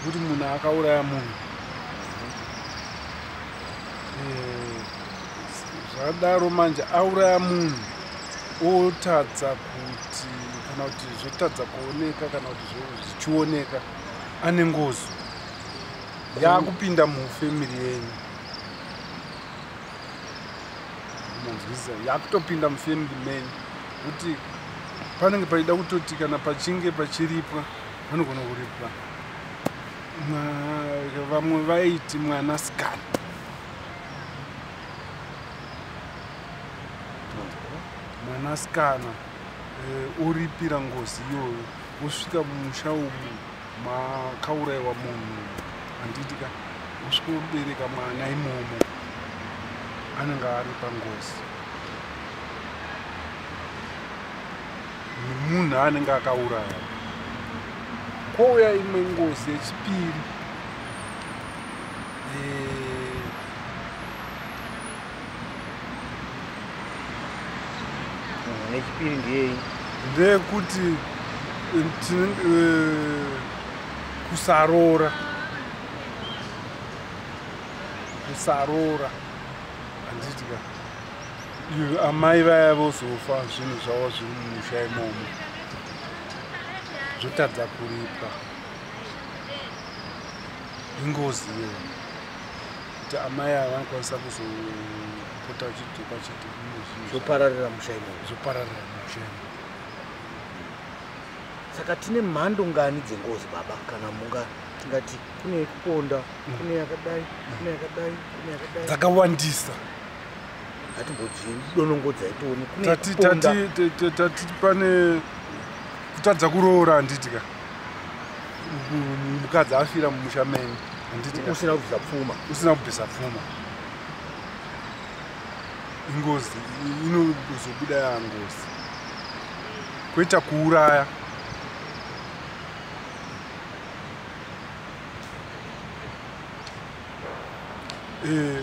kuti munhu akauraya munhu eh, zvadaro manje auraya munhu otadza kuti kana kuti zvotadza kuoneka kana kuti zvichioneka ane ngozi yakupinda mufamiri yenyu manzwisa yakutopinda mufamiri menyu kuti panenge paida kutoti kana pachinge pachiripwa vanogona kuripwa vamwe vaiti mwana sikana mwana sikana eh, oripira ngozi iyoyo osvika mumusha umu makaurayiwa munhu handiti ka osvika obereka mwana imomo anenge ari pangozi nemunhu anenge akauraya kwouya imwe ngozi yechipiri eh, nechipiri ndiyei ndeyekuti eh, kusaroora kusaroora handiti ka amai vaya vozofa zvinhu zvavo zviri mumusha imomo zvotadza kuripwa ingozi iyo kuti amai ava vanokwanisa kuzopota vachidzoka chete zvopararira musha imomo zvopararira musha imomo saka tine mhando ngani dzengozi baba kana munga tingati kune yekuponda kune yakadai kune yakadai kune yakadai dzakawandisa hatimbodonongodzai tione tati tati tati pane kutadza kuroora handitika mukadzi afira mumusha menyu handitika usina kubvisa pfuma usina kubvisa pfuma ingozi inozobuda yangozi kwete kuuraya eh,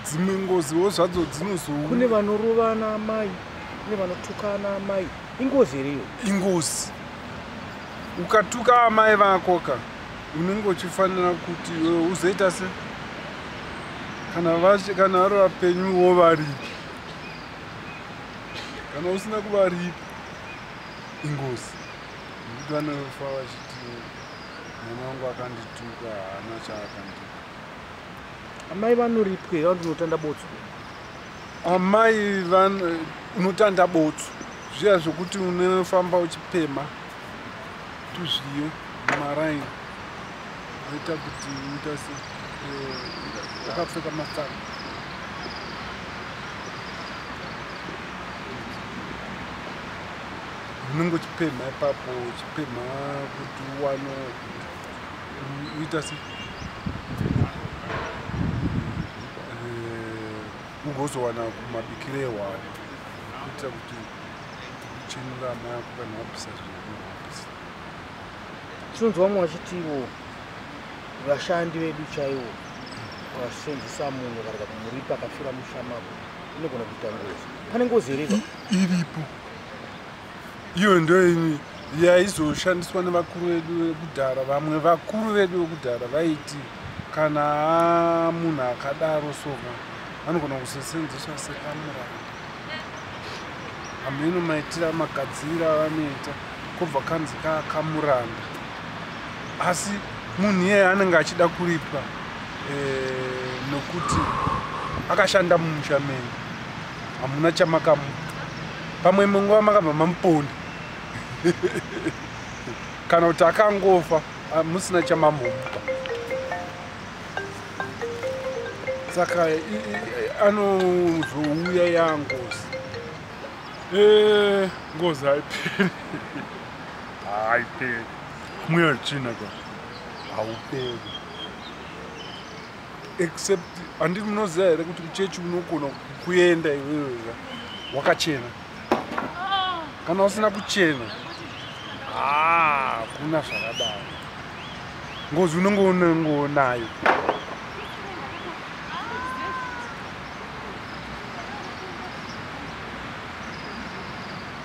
dzimwe ngoziwo zvadzo dzinozou kune vanorovana amai kune vanotukana amai ingozi here iyo ingozi ukatuka amai vako ka unenge uchifanira kuti eh, uzoita se kana vashe kana vari vapenyu wo varipi kana usina kuvaripi ingozi nekuti vanofa vachiti Mwana wangu akandituka haana chaakandituka. Amai vanoripwe vanoti unotanda botso. Amai van unotanda botso. Zviya zvokuti unofamba uchipema tuzviyo maraini aita kuti uita se eh, akapfeka matsara. unenge uchipemha ipapo uchipemha kuti uwano uita se eh, ugozowana kumabikiro ehwani kuitira kuti uchenura amai ako kana wapisa zvinapisa tinonzwa vamwe vachiti ivo vashandi vedu chaivo vasenzisa munhu varega kumuripa akafira mushamako inogona kuita ngozi pane ngozi iripo iripo iyo ndoini yaizoshandiswa nevakuru vedu vekudhara vamwe vakuru vedu vekudhara vaiti kana munhu akadaro soka anogona kuzosenzeswa sekamuranda hameno maitira magadziri avanoita kobva kanzi kakamuranda asi munhu iyeye anenge achida kuripa eh, nokuti akashanda mumusha menyu hamuna chamakamupa pamwe imwe nguva makabva mamuponda kana kuti akangofa ah, musina chamamupa saka anozouya yangozi eh, ngozi haiperi haiperi mweya china ka hauperi except handiti munoziva here kuti kuchechi unogona kuenda iwewe wakachena kana usina kuchena ah, kuna zvakadaro ngozi unenge unengoonayo